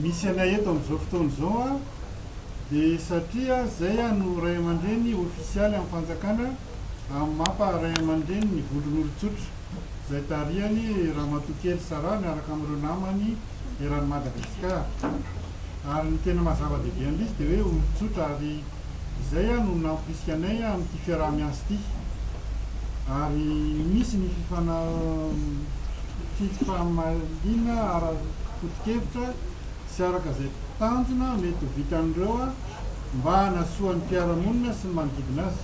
Misy anay eto amin'izao fotoana izao an, dia satria izay an no ray aman-dreny ofisialy amin'ny fanjakana amin'ny mapa ray aman-dreny ny vondron'olontsotra izay tarihany Ramatoa Kely Sarah miaraka amin'ireo namany eran'i Madagasikara. Ary ny tena maha zava-dehibe an'ilay izy dia hoe olon-tsotra ary Izay no nampisy anay amin'ity fiaraha-miasa ity. Ary misy ny fifamaliana ara-foto-kevitra sy araka izay tanjona mety ho vitan'ireo mba hanasoa ny mpiara-monina sy ny manodidina azy.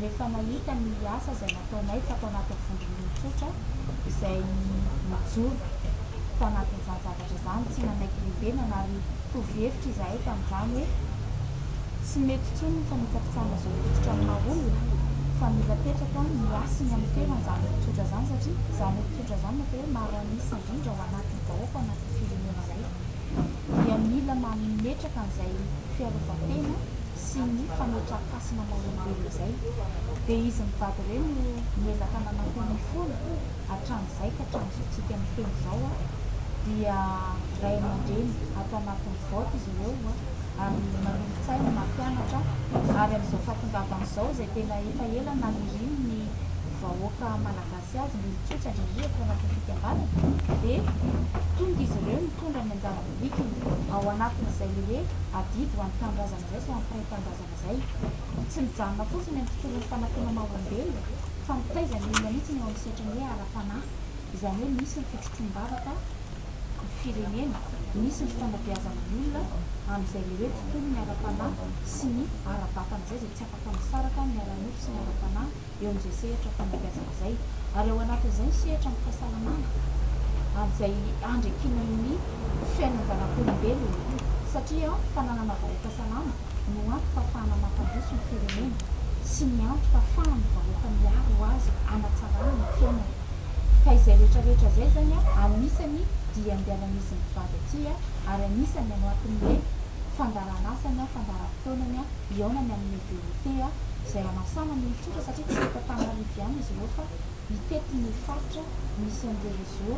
rehefa nahita ny asa izay nataonay tato anatin'ny vondron'olona tsotra izay nijoro tanatin'izany zavatra izany, tsy nanaiky lembenana ary tovy hevitra izahay tamin'izany hoe tsy mety intsony ny fanitsakitsahana izao fototra ny maha olona fa mila petraka ny hasiny amin'ny toeran'izany olon-tsotra izany satria izany olon-tsotra izany natao hoe maro an'isa indrindra ao anatin'ny vahoaka ao anatin'ny firenena iray dia mila mametraka an'izay fiarovan-tena sy ny fametraham-pasina maha olombelona izay dia izy mivady re no niezaka nanampy an'i Folo hatramin'izay ka hatramin'izao tsika miteny izao dia ray aman-dreny ato anatin'ny vaoty izy ireo ary manolotsaina mampianatra ary amin'izao fahatongavany izao izay tena efa ela nanirian'ny vahoaka malagasy sy azy ny olon-tsotra nirihako anatin'ny fikambanana dia tonga izy ireo nitondra ny anjara bibikiny ao anatin'izay le hoe adidy ho an'ny tanindrazana izay sy ho an'ny mpiray tanindrazana izay. Tsy mijanona fotsiny amin'ny tontolon'ny fanantenana maha-olombelona fa mitaiza ny olona mihitsy ny eo amin'ny sehatry ny hoe ara-panahy, izany hoe misy ny fitrotroam-bavaka ny firenena, misy ny fanabeazana ny olona amin'izay le hoe tontolon'ny ara-panahy sy ny ara-batana izay izay tsy afaka misaraka miara-nofo sy miara-panahy. eo amin'izay sehatra fanabeazana izay, ary ao anatin'izay ny sehran'ny fahasalamana, ary izay andriakinan'ny fiainan-janak'olombelona, satria ny fananana vahoaka salama no antom-pahafahana mampandroso ny firenena sy ny antom-pahafahan'ny vahoaka miaro ho azy hanatsarany ny fiainany, ka izay rehetrarehetra izay izany anisany dia andehanan'izy mivady aty ary anisany anatin'ilay fandaharan'asa na fandaharam-. taonany hihaona ny amin'ny BOT, izay hanasana ny olon-tsotra satria tsy hita tany marine vianana izy ireo fa hitety ny faritra misy an'ireo réseau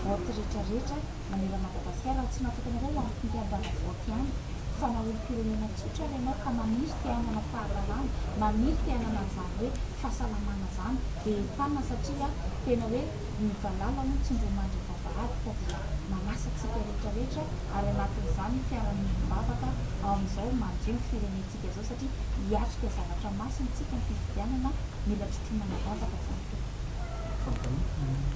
vote rehetra rehetra manerana Madagasikara ary tsy nahatokana ireo ho amin'ny mpiandry hanavote ihany fa na olom-pirenena tsotra ary ianao ka maniry te hanana fahalalana, maniry te hanana an'izany hoe fahasalamana izany dia entanina satria tena hoe Ny valala moa tsy indroa mandry vavahady fa dia manasa antsika rehetra rehetra ary anatin'izany fiaraha-miombom-bavaka amin'izao manjo ny firenentsika izao satria hiatrika zavatra masina isika ny fifidianana, mila kitihina manavaka izany tompoko.